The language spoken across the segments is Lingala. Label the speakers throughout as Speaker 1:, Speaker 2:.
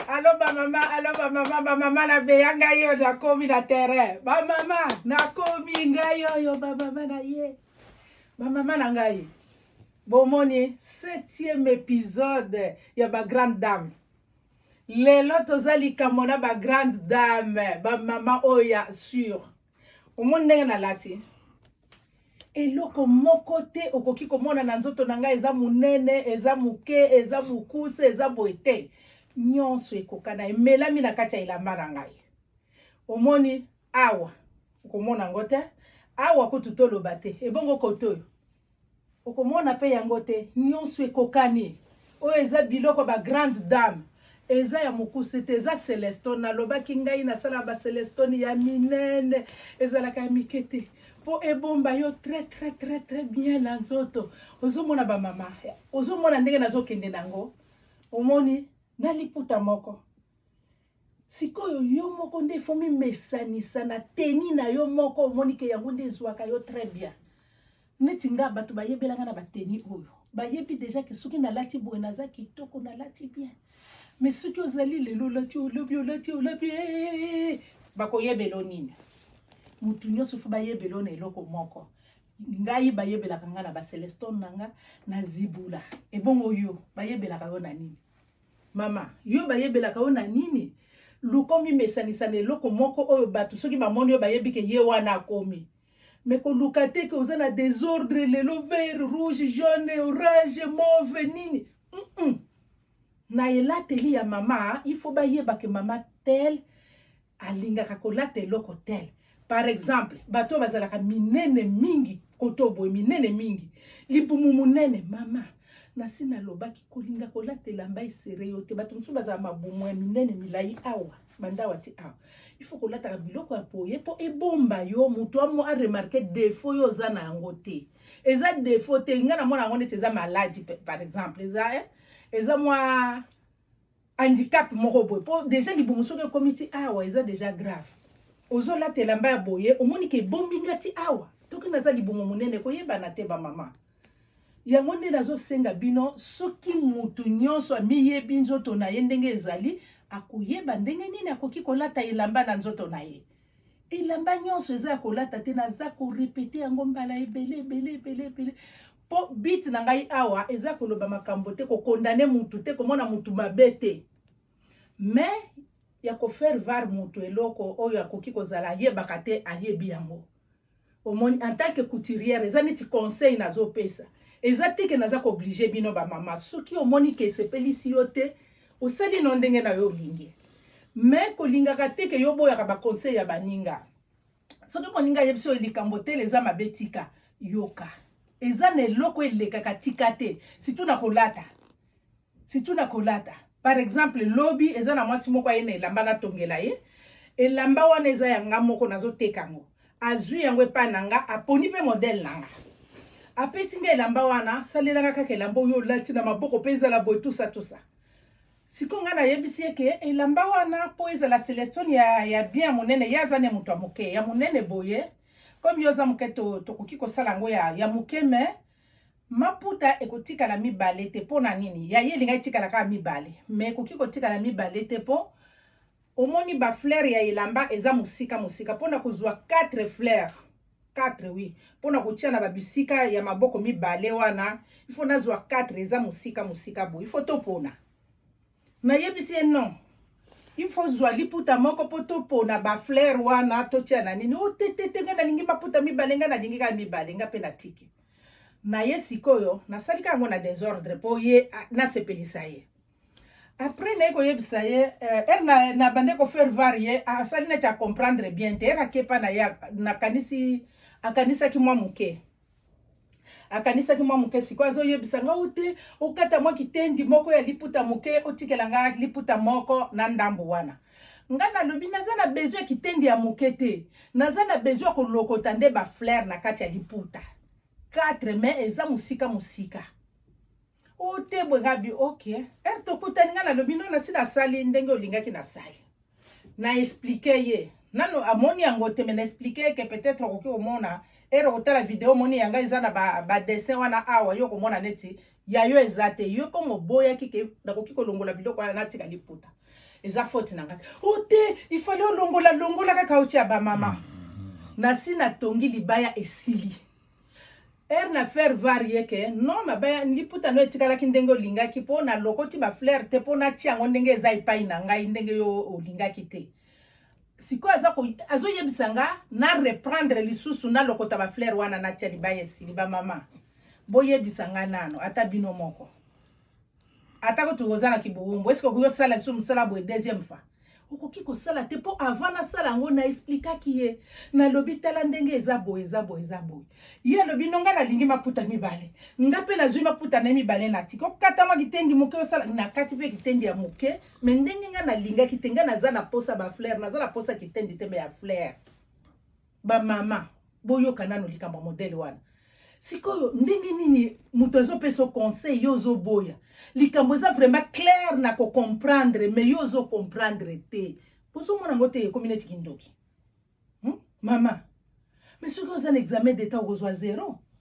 Speaker 1: alo bamama alo bamama bamama na beya ngai oyo nakomi na terrain bamama nakomi ngai oyo bamama na ye bamama na ngai bomoni septième épisode ya bagrande dame lelo toza likambo na bagrande dame bamama oyo ya sur omoni ndenge nalati eloko moko te okoki komona na nzoto na ngai eza monene eza moke eza mokuse eza boye te nyonso ekokana emelami na kati ya elamba na ngai omoni awa okomona yango te awa kutu toloba te ebongo koto oyo okomona pe yango te nionso ekokani oyo eza biloko ba grande dame eza ya mokuse te eza celestone nalobaki ngai nasalaka bacelestone ya minene ezalaka ya mike te mpo ebomba yo très très très très bien na nzoto ozomona bamama ozomona ndenge nazokende na yango omoni na liputa moko sikoyo yo moko nde ifo mimesanisa na teni na yo moko omoni ke yango nde ezwaka yo très bien neti nga bato bayebelanga na bateni oyo bayebi deja ke soki nalati boye naza kitoko nalati bien me soki ozali lelo olati olobi olati olobi eh, eh, eh, bakoyebelo nini motu nyonso fo bayebelo na eloko moko ngai bayebelaka ngai na bacelestone na ngai na zibula ebongo yo bayebelaka yo na nini Mama, yo bayebelaka yo na nini? Luka omimesanisa na eloko moko oyo bato soki bamoni yo bayebi ke ye wana akomi. Me koluka te ke oza na desordre lelo vert, rouge, jaune, orange, mauve nini. Mm -mm. Na elateli ya mama, il faut bayeba ke mama tel alingaka kolata eloko tel par exemple bato oyo bazalaka minene mingi koto boye minene mingi libumu monene mama nasi nalobaki kolinga kolata elamba esere yo te bato mosusu bazala mabumu ya minene milai awa bandawa ti awa il faut kolataka biloko ya boye mpo ebomba yo moto amo aremarke defaut yo oza na yango te eza defaut te ngai namona yango neti eza maladi par exemple eza eh? eza mwa handicap moko boye po deja libumu soki ekomi ti awa eza deja grave ozolata elamba ya boye omoni ke ebombi nga ti awa toki naza libumu monene koyebana te bamama yango nde nazosenga bino soki mutu nyonso amiyebi nzoto na ye ndenge ezali akoyeba ndenge nini akoki kolata elamba na nzoto na ye elamba nyonso eza ya kolata te naza korepete yango mbala ebele ebele ebele ebele Po but na ngai awa eza koloba makambo te, ko condamner mutu te, komona mutu mabe te. Mais ya ko faire var mutu eloko oyo akoki kozala ayebaka te ayebi yango. Omoni en tant que couturière eza neti conseil nazopesa. Eza te ke naza ko obliger bino ba mama. Soki omoni ke esepelisi yo te, osali no ndenge na yo olingi. Mais kolingaka te ke yo boyaka ba conseil ya baninga. soki moninga ayebisi oyo likambo tele eza mabe tika yoka eza na eloko elekaka tika te situ na kolata situ na kolata par exemple lobi eza na mwasi moko aye na elamba natongela ye elamba wana eza ya nga moko nazoteka yango azwi yango epai na nga aponi mpe modele na nga apesi nga elamba wana salelaka kaka elamba oyo olati na maboko mpe ezala boye tusa tusa siko ngai nayebisi ye ke elamba wana mpo ezala celestone ya, ya bien ya monene ye aza ne moto ya moke ya monene boye komi yo oza moke tokoki to kosala yango ya, ya moke me maputa ekotikala mibale te mpo na nini ya ye elingai etikala kaka mibale me ekoki kotikala mibale te mpo Omoni ba fleurs ya elamba eza mosika mosika pona kozwa 4 fleurs 4 oui pona kotia na ba bisika ya maboko mibale wana il faut nazwa 4 eza mosika mosika boye il faut topona nayebisi ye non il faut zwa liputa moko mpo topona ba fleurs wana totia na nini o te te te ngai nalingi maputa mibale ngai nalingi kaka mibale ngai mpe natiki na ye sikoyo nasalika yango na desordre mpo ye nasepelisa ye après naye koyebisa ye eh, er na, na bande kofaire var ye asali neti acomprendre bien te er akepa na ye nakanisi akanisaki mwa moke akanisaki mwa moke sikoyo azoyebisa nga o te okata mwa kitendi moko ya liputa moke otikela nga liputa moko na ndambo wana nga nalobi naza na besoin ya kitendi ya moke te naza na besoin ya kolokota nde baflere na kati ya liputa 4 mai eza mosika mosika otebwe gabi ok ere eh, tokutani ngai nalobi no nasi nasali ndenge olingaki nasali na explike ye nano amoni yango te me na explike ye ke peut-être okoki komona ere okotala video omoni yanga eza na badessin ba wana awa yo okomona neti ya yo eza te yo komo oboyaki ke nakoki kolongola biloko wana natika liputa eza faute na ngai o oh, te ifali olongola longola kaka otia bamama mm, mm, mm. nasi natongi libaya esili heure na faire var ye ke no mabaya liputa no etikalaki ndenge olingaki mpo na lokoti bafleur te mpo natia yango ndenge eza epai na ngai ndenge yo olingaki te sikoyo aza azoyebisa nga na reprendre lisusu nalokota bafleur wana natia libaya esili bamama boyebisa nga nano ata bino moko atako toza na kibowumbu eske okoki osala lisusu mosala boye deuxième fois okoki kosala te mpo avant nasala yango na explikaki ye nalobi tala ndenge eza boye eza boye eza boye ye alobi no ngai nalingi maputa mibale nga mpe nazwi maputa na ye mibale na tika okatama kitendi moke osala nakati mpe kitendi ya moke me ndenge ngai nalingaki te ngai naza na posa bafleur naza na posa kitendi te me ya fleur ba mama boyoka nano likambo ya modele wana sikoyo ndenge nini moto azopesa yo conseil yo ozoboya likambo eza vraiment claire na kocomprendre mais yo ozocomprendre te bozomona yango te ekomi neti kindoki hmm? mama mais soki oza na examen d'etat okozwa zero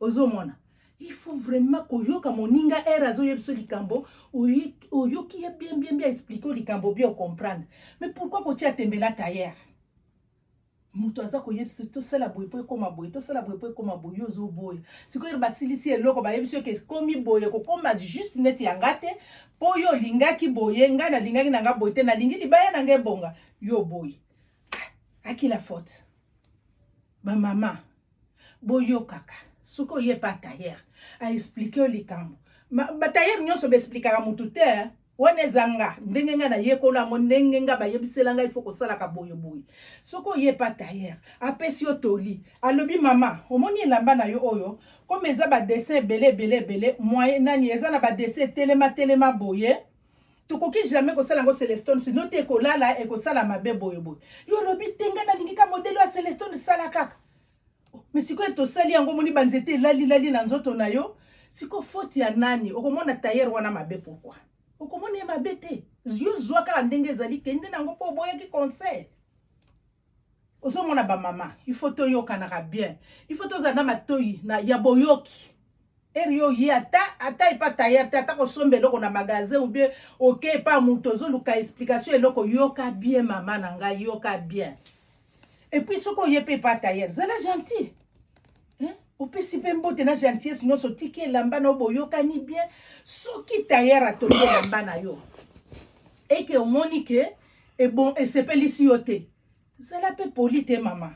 Speaker 1: ozomona il faut vraiment koyoka moninga ere azoyeba biso likambo oyoki ye bien bien bien explike o likambo bien ocomprendre mais pourquoi kotia tembela tayere moto aza koyebisa biso tosala boye mpo ekóma boye tosala boye mpo ekóma boye yo ozoboya sikoyo basilisi eloko bayebi biso eke ekomi boye kokóma juste neti ya nga te mpo yo olingaki boye ngai nalingaki na nga boye te nalingi libaya na nga ebonga yo boye ah, akila faute Ba mama boyokaka soki oye pa tailleur aexplike yo likambo batailleur nyonso baexplikaka motu te wana eza nga ndenge nga nayekola yango ndenge nga bayebisela ngai fo kosalaka boyeboye soki oye pa tailleur apesi yo toli alobi mama omoni elamba na yo oyo comme eza badessin ebele ebele ebele moye nani eza na badessin etelema telema boye tokoki jamais kosala yango celestone sino te ekolala ekosala mabe boyeboye yo olobi te ngai nalingi ka modele ya celestone sala kaka me sikoyo tosali yango omoni banzete elalilali na nzoto na yo sikoyo foti ya nani okomona tayere wana mabe pourkui okomona ye mabe te yo zwa kaka ndenge ezali kende na yango mpo oboyaki conseil ozomona bamama il faut toyokanaka bien il faut tozala na matoi na ya boyoki eri yo ye ata ata epa tayer te ata kosomba eloko na magasin ou bien oke epa moto ozoluka explication eloko yoka bien mama na ngai yoka bien epuis soki oye mpe epa tayer zala gentil opesi mpe mbote na gentillesse nyonso otiki elamba na yo boyokani bien soki tayer atongi elamba na yo eke omoni ke ebon esepelisi yo te zala mpe poli te mama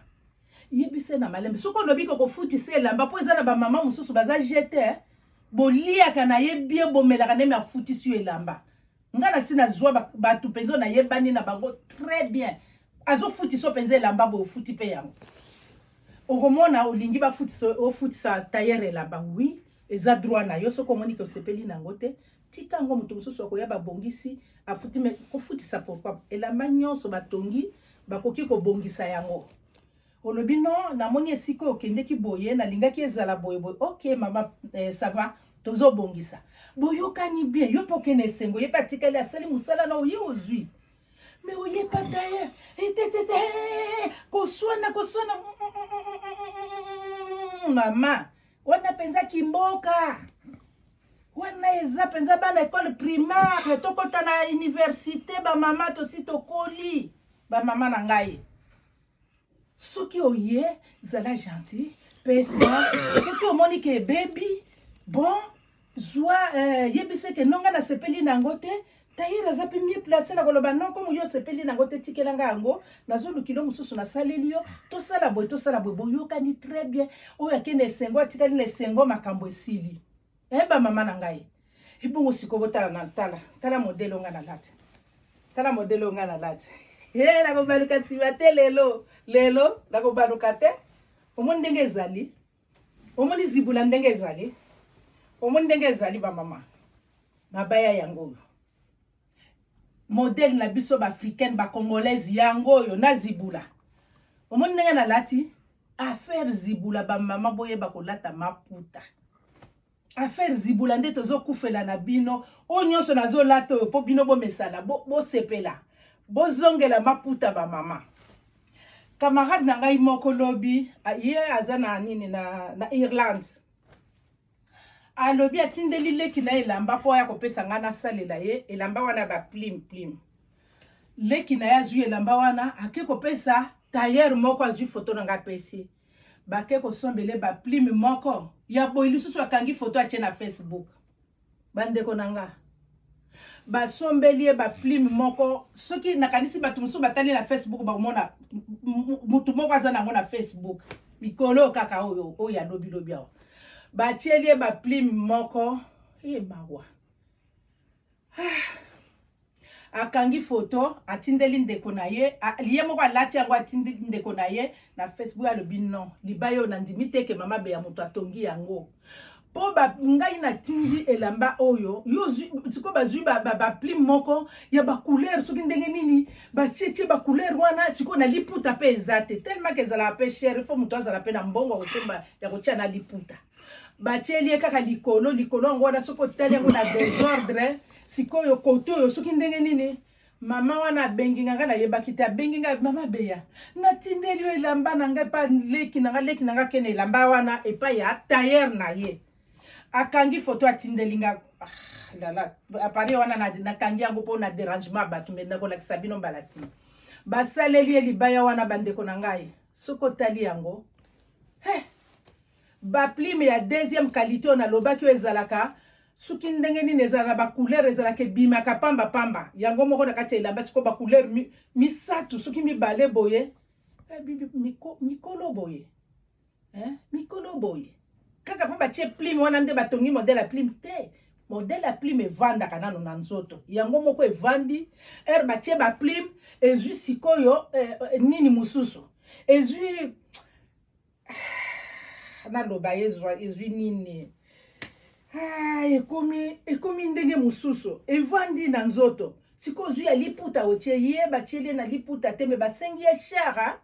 Speaker 1: yebisa na malembe soki olobi ko kofutisa elamba mpo eza na bamama mosusu baza jete eh. boliaka na ye bien bomelaka neme afutisi yo elamba ngai nasi nazwa bato mpenza oyo nayebani na bango très bien azofutisa mpenza elamba boye ofuti mpe yango okomona olingi bafutisa ofutisa tayere elamba wi eza droit na yo soki omoni ke osepeli na yango te tika yango moto mosusu akoya babongisi afuti me kofutisa pourkoi elamba nyonso batongi bakoki kobongisa yango olobi no namoni esika okendeki boye nalingaki ezala boye boye ok mama eh, sava tozobongisa boyokani bien yo mpe okende esengo ye mpe atikali asali mosala na oye ozwi me oyebata ye etetete koswana koswana mama wana mpenza kimboka wana eza mpenza bana ekole primaire tokota na universite bamama tosi tokoli bamama na ngai soki oye zala gentil pesa soki omoni ke ebebi bon zwa eh, yebisa eke nonga nasepeli na yango te Tahir aza mpe mie place na koloba non komo yo osepeli nango te tikela nga yango nazolukilo mosusu nasaleli yo tosala boye tosala boye boyokani très bien oyo ake na esengo atikali na esengo makambo esili e bamama na ngai ebongo sikoyo botala na tala tala modele onga na lati tala modele onga na lati e eh, nakobaluka nsima te lelo lelo nakobaluka te omoni ndenge ezali omoni zibula ndenge ezali omoni ndenge ezali bamama mabaya yango oyo modele na biso baafricaine bacongolaise yango oyo na zibula omoni ndenge nalati affaire zibula bamama boyeba kolata maputa affaire zibula nde tozokufela na bino oyo nyonso nazolata oyo mpo bino bomesana bosepela bo bozongela maputa bamama camarade na ngai moko lobi ye aza na nini na, na irlande alobi atindeli leki na elamba mpo aya kopesa ngai nasalela ye elamba wana ya baplime plime leki na ye azwi elamba wana ake kopesa tailleur moko azwi foto na ngai apesi bake kosombele ba plume moko ya boye lisusu akangi foto atie na facebook bandeko na nga basombeli ye baplime moko soki nakanisi bato mosusu batali na facebook bakomona motu moko aza nango na facebook mikolo kaka oyo oyo ya lobilobi awa batieli ye baplime moko e mawa akangi foto atindeli ndeko na ye ye moko alati yango atindeli ndeko na ye na facebook alobi non libaya oyo nandimi te ke mama beya moto atongi yango mpo ngai natindi elamba oyo yo sikoyo bazwi baplime moko ya bacouleur soki ndenge nini batietie bacouleur wana sikoyo na liputa mpe eza te tellement ke ezalaka mpe chere fo moto azala mpe na mbongo ya kosomba ya kotia na liputa batyeli ye kaka likolo likolo yango wana soki otali yango na desordre sikoyo koto oyo soki ndenge nini mama wana abengi nga ngai nayebaki te abengi ngai mama beya natindeli yo elamba na ngai epa leki na ngai leki na ngai akende elamba wana epai ya tailleur na ye akangi foto atindeli nga ah, lala appareil wana nakangi yango mpo na derangement ya bato me nakolakisa bino mbala nsima basaleli ye libaya wana bandeko na ngai soki otali yango hey! Ba plume ya deuxième qualité oyo nalobaki oyo ezalaka soki ndenge nini ezala na bacouleur ezalaka ebimaka pamba pamba yango moko na kati ya elamba sikoyo bacouleur mi, misato soki mibale boye eh, miko, mikolo boye eh, mikolo boye kaka mpo batie plume wana nde batongi modele ya plume te modele ya plume evandaka nano na nzoto yango moko evandi ere batie baplume ezwi sikoyo eh, eh, nini mosusu ezwi ah, naloba ezwa ezwi nini ah, ekomi ekomi ndenge mosusu evandi na nzoto sikoyo zwi ya liputa otie ye batieli ye na liputa te me basengi ye shara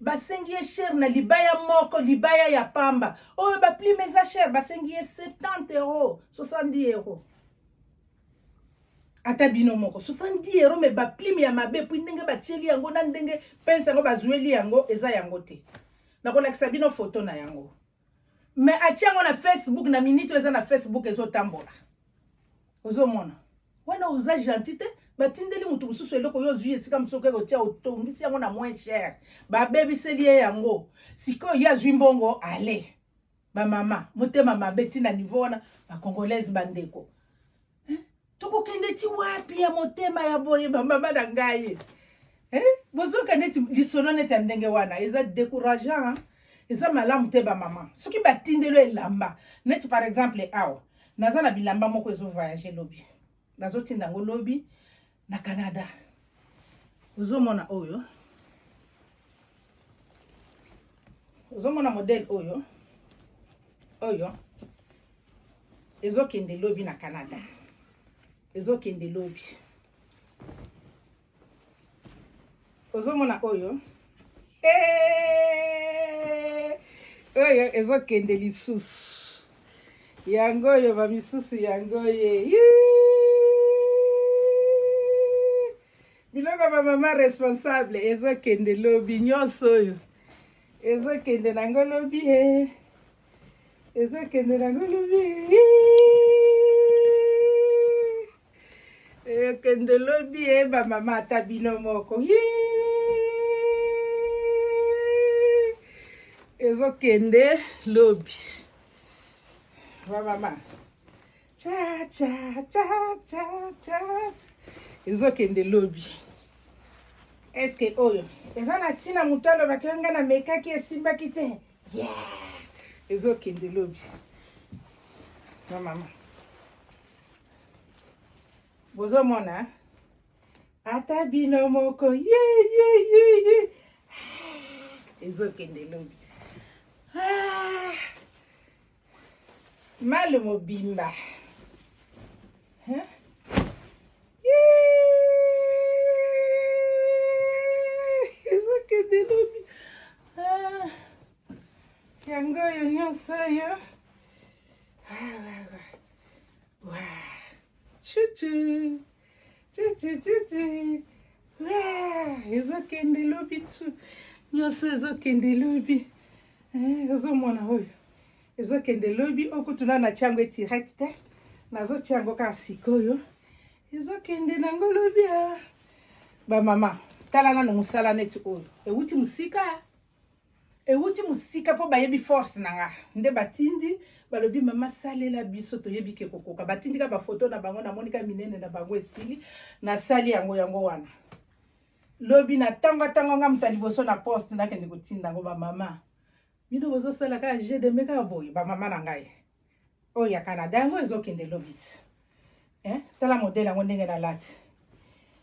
Speaker 1: basengi ye shere na libaya moko libaya ya pamba oyo baplime eza shere basengi ye 70 euro 70 euro ata bino moko 70 euro me baplime ya mabe puis ndenge batieli yango na ndenge pense yango bazueli yango eza yango te nakolakisa bino foto na yango me atie yango na facebook na minute oyo eza na facebook ezotambola ozomona wana oza gentil te batindeli moto mosusu eloko yo ozwi esika mosusu okoki kotia otongisi yango na moins cher babebiseli ye yango sikoyo ye azwi mbongo ale ba mama motema mabe ti na niveau wana ba congolaise ba ndeko eh? tokokende ti wapi ya motema ya boye ba mama na ngai eh? bozoka neti lisolo neti ya ndenge wana eza décourageant eza malamu te ba mama soki batindelo elamba neti par exemple awa naza na bilamba moko ezo voyage lobi nazotinda yango lobi na Canada. Ozomona oyo, ozomona modèle oyo oyo ezokende lobi na Canada, ezokende lobi. ozomona oyo eh! oyo ezokende lisusu yango oyo bamisusu yango ye biloko bamama responsable ezokende lobi nyonso oyo ezokende nango lobi e eh. ezokende nango lobi eh. ekende eh, lobi ye eh, bamama ata bino moko ezokende lobi bamama ezokende lobi eske oyo eza na ntina moto alobaki yo ngai namekaki esimbaki te yeah. ezokende lobi bamama bozomona ata bino moko ye ye ye ye ezokende lobi ah! malu mobimba ezokende lobi ah! yango oyo nyonso oyo Chuchu. Chuchu, chuchu. Ah, ezokende lobi tu nyonso ezokende lobi eh, ozomona oyo ezokende lobi okutuna na tiango etirect te nazotiango kaka sikoyo ezokende nango lobi a ah. bamama tala nano mosala neti oyo ewuti mosika ewuti mosika mpo bayebi force na nga nde batindi balobi mama salela biso toyebi ke kokoka batindi ka bafoto na bango namoni ka minene na bango esili nasali yango yango wana lobi na ntango ntango nga moto ya liboso na poste nakende kotinda yango bamama bino bozosala kaka jeu de me kaka boye bamama na ngai oyo ya canada yango ezokende lobi ti eh? tala modele yango ndenge nalati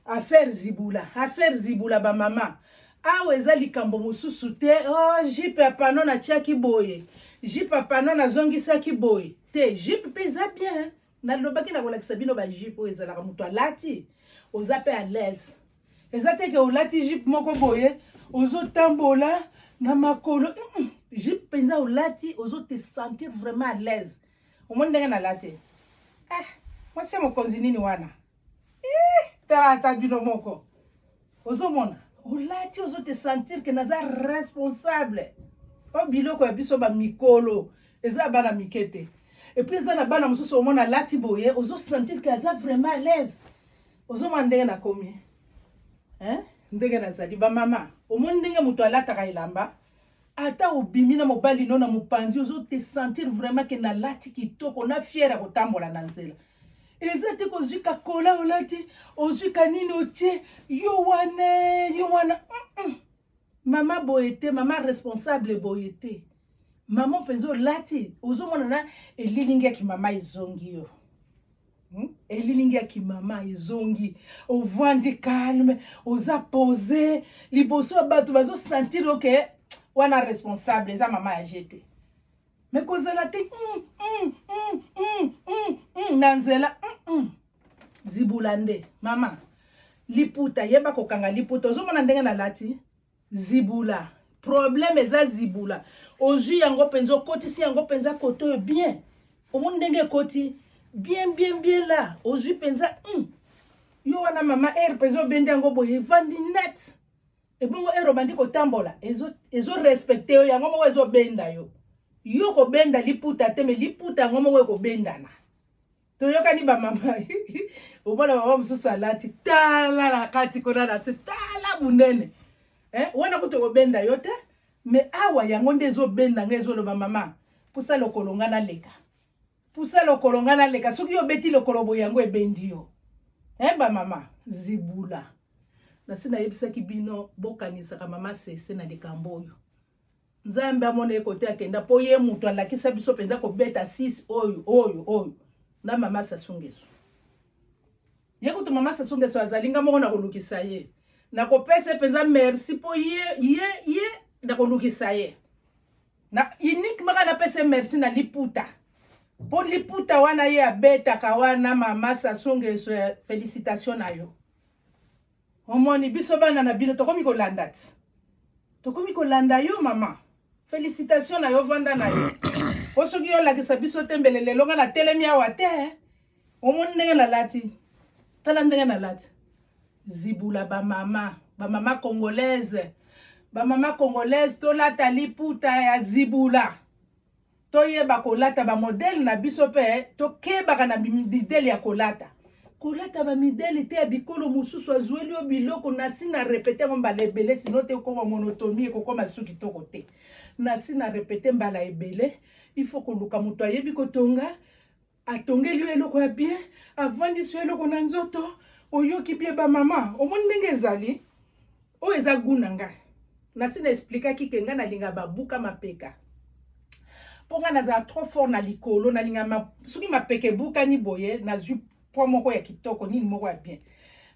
Speaker 1: affaire zibula affaire zibula bamama awa eza likambo mosusu te o oh, jipe ya pano natiaki boye jipe ya pano nazongisaki boye te jipe mpe eza bien nalobaki nakolakisa bino bajipe oyo ezalaka moto alati oza mpe alaise eza te ke olati jipe moko boye ozotambola na makolo jipe mpenza olati ozo te sentir vraiment à l'aise omoni ndenge nalati eh, mwasi ya mokonzi nini wana eh, tala ata bino moko ozomona olati ozo te sentir ke naza responsable o biloko ya biso bamikolo eza ya bana mike te epuis eza na bana mosusu omona alati boye ozo sentir ke aza vraiment à l'aise ozomona ndenge nakomi eh? ndenge nazali bamama omoni ndenge moto alataka elamba ata obimi na mobali no na mopanzi ozo te sentir vraiment ke nalati kitoko na fiere ya kotambola na nzela eza te kozwi kakola olati ozwi kanini otie yo wana yo wana mm -mm. mama boye te mama responsable boye te mama mpenza olati ozomona na elilingi ya kimama ezongi yo hmm? elilingi ya kimama ezongi ovandi calme oza pose liboso ya bato bazosentire oke okay, wana responsable eza mama ya je te me kozala te mm, mm, mm, mm, mm, mm, na nzela mm, mm. zibula nde mama liputa yeba kokanga liputa ozomona ndenge nalati zibula problème eza zibula ozwi yango mpenza okotisi yango mpenza kote oyo bien omoni ndenge ekoti bien bien bien la ozwi mpenza mm. yo wana mama aire mpenza obendi yango boye evandi net ebongo aire obandi kotambola ezorespecte yo yango moko ezobenda yo yo kobenda liputa te me liputa yango moko ekobendana toyokani bamama omona mama mosusu alati tala na kati kuna na se tala monene eh, wana kutu ekobenda yo te me awa yango nde ezobenda ngai ezoloba mama pusa lokolo ngai naleka pusa lokolo ngai naleka soki yo obeti lokolo boye yango ebendi yo eh, bamama zibula nasi nayebisaki bino bokanisaka mama sese na likambo oyo nzambe amona ye kote akenda mpo ye moto alakisa biso mpenza kobeta 6 oyo oyo oyo na mama sasungesu ye kutu mama sasungesu azali nga moko nakolukisa ye nakopesa ye mpenza merci mpo ye ye ye nakolukisa ye na unique maka napesa ye merci na liputa mpo liputa wana ye abetaka wana mama sasungesu eh, felicitation na yo Omoni biso bana na bino tokomi kolanda ti. Tokomi kolanda yo mama. Felicitation na yo vanda na yo. Po soki yo lakisa biso te mbele lelo nga na telemi awa te. Eh. Omoni ndenge na lati. Tala ndenge na lati. Zibula ba mama, ba mama congolaise. Ba mama congolaise tolata liputa ya zibula. toyeba kolata bamodele na biso mpe tokebaka na midele ya kolata kolata bamidele te ya bikolo mosusu azweli yo biloko nasi na repete yango mbala ebele sino te okoma monotomi ekokoma su kitoko te nasi na repete mbala ebele ifo koluka moto ayebi kotonga atongeli yo eloko ya bien avandisi yo eloko na nzoto oyoki bie bamama omoni ndenge ezali oyo eza gu na ngai nasi na esplikaki ke ngai nalinga babuka mapeka mpo ngai nazala trop fort na likolo nalinga ma, soki mapeka ebukani boye nazwi pwa moko ya kitoko nini moko ya bien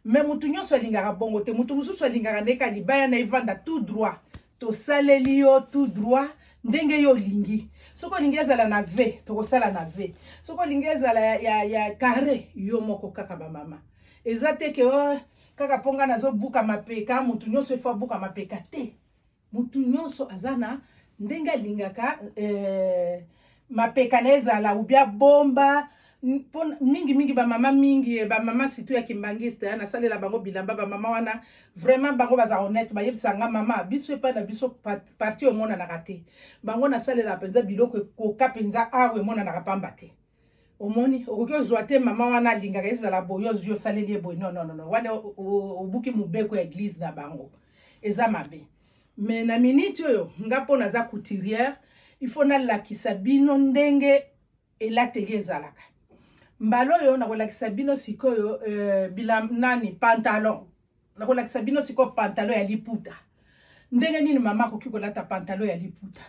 Speaker 1: me motu nyonso alingaka bongo te motu mosusu alingaka ndeka libaya na evanda tout droit tosaleli yo tout droit ndenge yo olingi soki olingi ezala na v tokosala na v soki olingi ezala ya, ya, ya carre yo moko kaka bamama eza te ke oh, kaka mpo ngai nazobuka mapeka motu nyonso efo abuka mapeka te motu nyonso aza na ndenge alingaka eh, mapeka na ezala ou bien bomba mpo mingi mingi bamama mingi eh, bamama surtout ya kimbangiste eh, nasalela bango bilamba bamama wana vraiment bango baza honnête bayebisa nga mama biso epai na biso parti omonanaka te bango nasalela mpenza biloko ekoka mpenza awa ah, emonanaka pamba te omoni okoki ozwa te mama wana alingaka ezala boye ozwi osaleli ye boye nononono wana obuki mobeko ya eglize na bango eza mabe Mais na minute oyo nga mpo naza couturière il faut nalakisa bino ndenge elateli ezalaka mbala oyo nakolakisa bino sikoyo euh, bilam nani pantalon nakolakisa bino sikoyo pantalon ya liputa ndenge nini mama akoki kolata pantalon ya liputa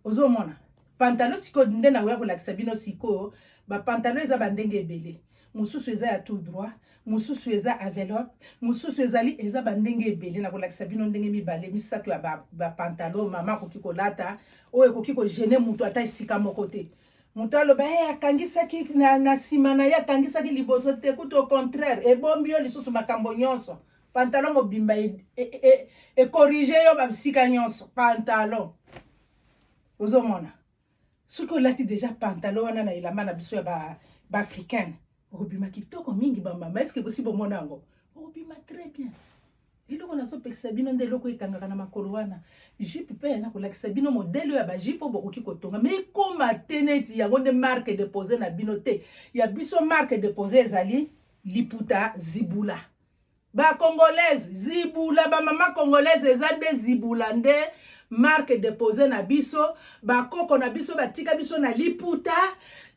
Speaker 1: ozomona pantalo sikoyo nde nakoya kolakisa bino sikoyo bapantalo eza bandenge ebele mosusu eza ya tout droit mosusu eza avelope mosusu ezali eza bandenge ebele nakolakisa bino ndenge mibale misato ya bapantalo ba mama akoki kolata oyo ekoki kogene moto ata esika moko te moto aloba e akangisaki na nsima na ye akangisaki liboso te kutu au contraire ebombi yo lisusu makambo nyonso pantalon mobimba e, e, e, e, e corrige yo ba bisika nyonso pantalon ozomona soki olati deja pantalon wana na elamba na biso ya ba baafricaine okobima kitoko mingi bamama eske bosi bomona yango okobima très bien eloko nazopekisa bino nde eloko ekangaka na makolo wana jipe mpe yana kolakisa bino modele oyo ya bajipe oyo bokoki kotonga ma ekoma te neti yango nde marke depose na bino te ya biso marke depose ezali liputa zibula ba congolaise zibula ba mama congolaise eza nde zibula nde marque depose na biso bakoko na biso batika biso na liputa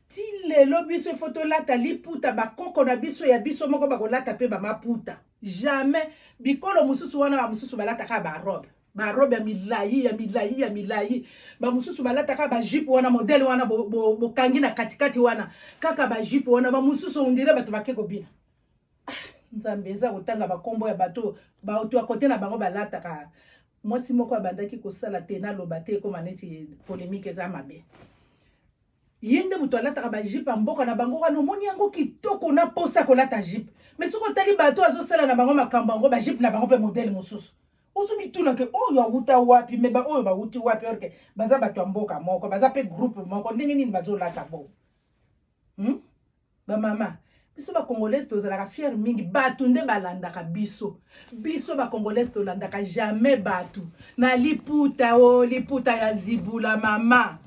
Speaker 1: ti lelo biso ifo tolata liputa bakoko na biso ya biso moko bakolata mpe bamaputa jamais bikolo mosusu wana bamosusu balataka barobe barobe ya milai ya milai ya milai bamosusu balataka bajipe wana modele wana bokangi bo, bo na katikati wana kaka bajipe wana bamosusu ondire bato bake kobina nzambe eza kotanga bakombo ya bato bato ya kote na bango balataka mwasi moko abandaki kosala te naloba te ekoma neti polemike eza mabe ye nde moto alataka bajipe ya mboka na bango wana omoni yango kitoko na mposa ya kolata jipe mai soki otali bato azosala na bango makambo yango bajipe na bango mpe modele mosusu ozo mituna ke oyo oh, awuta wapi me baoyo bawuti wapi orke baza bato ya mboka moko baza mpe groupe moko ndenge nini bazolata bongo hmm? ba mama biso ba congolaise tozalaka fiere mingi bato nde balandaka biso biso ba congolaise tolandaka jamais bato na liputa o oh, liputa ya zibula mama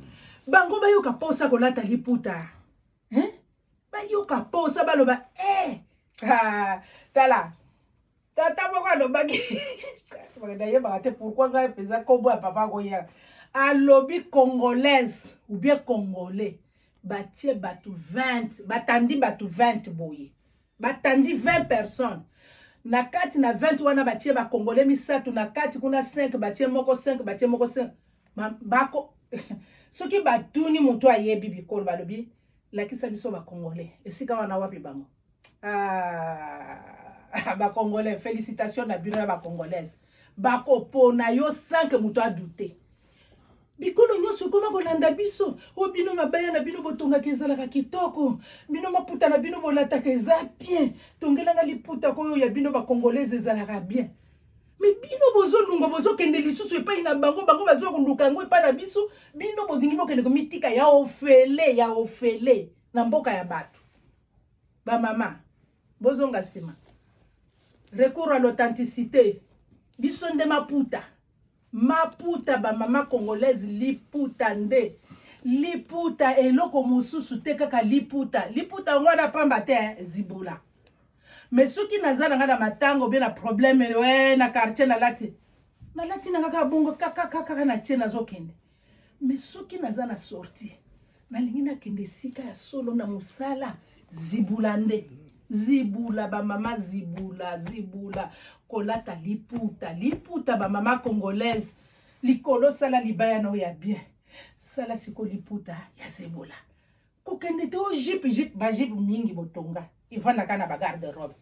Speaker 1: bango bayoka mposa kolata liputa eh? bayoka mposa baloba e eh! ah, tala tata moko alobaki nayebaka te pourkui ngai mpenza nkombo ya papa koya alobi congolaise ou bien congolais batie bato 20 batandi bato 20 boye batandi 20 personnes na kati na 20 wana batie bakongole misato na kati kuna 5 batie moko 5 batie moko 5 bako soki batuni moto ayebi bikolo balobi lakisa biso bakongole esika wana wapi bango ah, ba congolais félicitations na bino na ba congolaise bakopona yo sans que moto adoute bikolo nyonso ekoma kolanda biso o bino mabaya na bino botongaka ezalaka kitoko bino maputa na bino bolataka eza bien tongelanga liputa koyo ya bino bacongolaise ezalaka bien me bino bozolunga bozokende lisusu epai na bango bango bazoya koluka yango epai na biso bino bolingi bokende komitika ya ofele ya ofele na mboka ya bato ba mama bozonga nsima recours à l'authenticité biso nde maputa maputa bamama congolaise liputa nde liputa eloko mosusu te kaka liputa liputa yango wana pamba te eh, zibula me soki naza na ngai na matanga obie na probleme we eh, na quartier nalati nalati na kaka bongo kakakakaka na tie nazokende me soki naza na sorti nalingi nakende esika ya solo na mosala zibula nde zibula bamama zibula zibula kolata liputa liputa bamama congolaise likolo sala libaya na oyo ya bien sala siko liputa ya zibula kokende te o jipe jipe bajipe mingi botonga evandaka na bagarde robe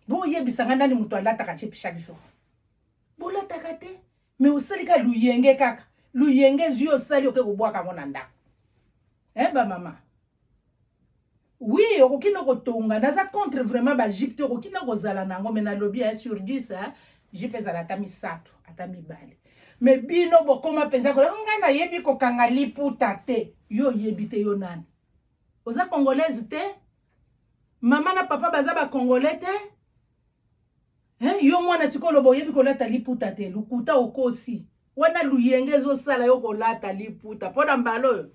Speaker 1: boyebisa ngai nani moto alataka jipe chaque jour bolataka te Mais osali ka luyenge kaka. Luyenge ezwi osali oke kobwaka yango na ndako. Eh ba mama. Oui, okoki na kotonga. Naza contre vraiment ba jipe te okoki na kozala na yango mais nalobi hein, sur 10 hein, jipe ezala ata misato, ata mibale. Mais bino bokoma mpenza kola ngai nayebi kokanga liputa te. Yo oyebi te yo nani? Oza congolaise te? Mama na papa baza ba congolais te? Hein, yo mwana sikoyo loba oyebi kolata liputa te lokuta okosi wana luyenge ezosala yo kolata liputa mpo na mbala oyo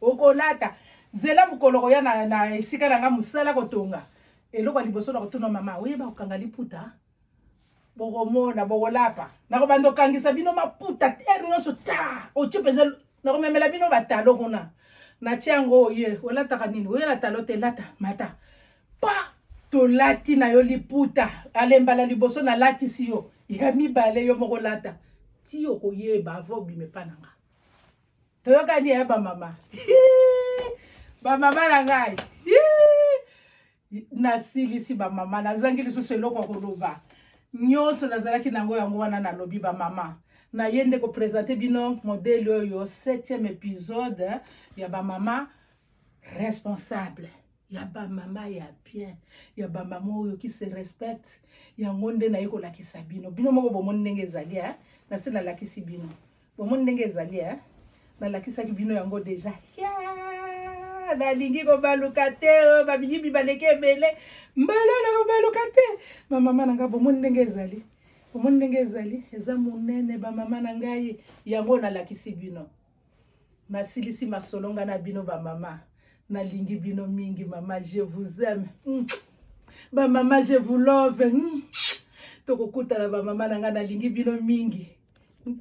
Speaker 1: okolata zela mokolo koya na, na esika na nga mosala kotonga eloko ya liboso na kotuna mama oyeba kokanga liputa bokomona bokolapa nakobanda okangisa bino maputa ere nyonso ta otie mpenza nakomemela bino batalo kuna natie yango oye olataka nini oyela talo te lata mata pa tolati na yo liputa alembala liboso nalatisi yo ya mibale yo moko lata ti okoyeba ava obima epa na nga toyokani ya bamama bamama na ngai nasilisi bamama nazangi lisusu eloko ya koloba nyonso nazalaki na yango yango wana nalobi bamama naye nde kopresente bino modele oyo 7e episode ya bamama responsable ya bamama ya bien ya bamama oyo ki se respecte yango nde naye kolakisa bino bino moko bomoni ndenge ezali eh? nase nalakisi bino Bomoni ndenge ezali eh? Nalakisaki bino yango deja yeah! nalingi kobaluka te oh, babiyibi baleki ebele mbala na kobaluka te bamama na ngai bomoni ndenge ezali bomoni ndenge ezali eza monene bamama na ngai yango nalakisi bino nasilisi masolo ngai na bino bamama nalingi bino mingi mama je vous aime mm. bamama je vous love mm. tokokutana bamama na ngai nalingi bino mingi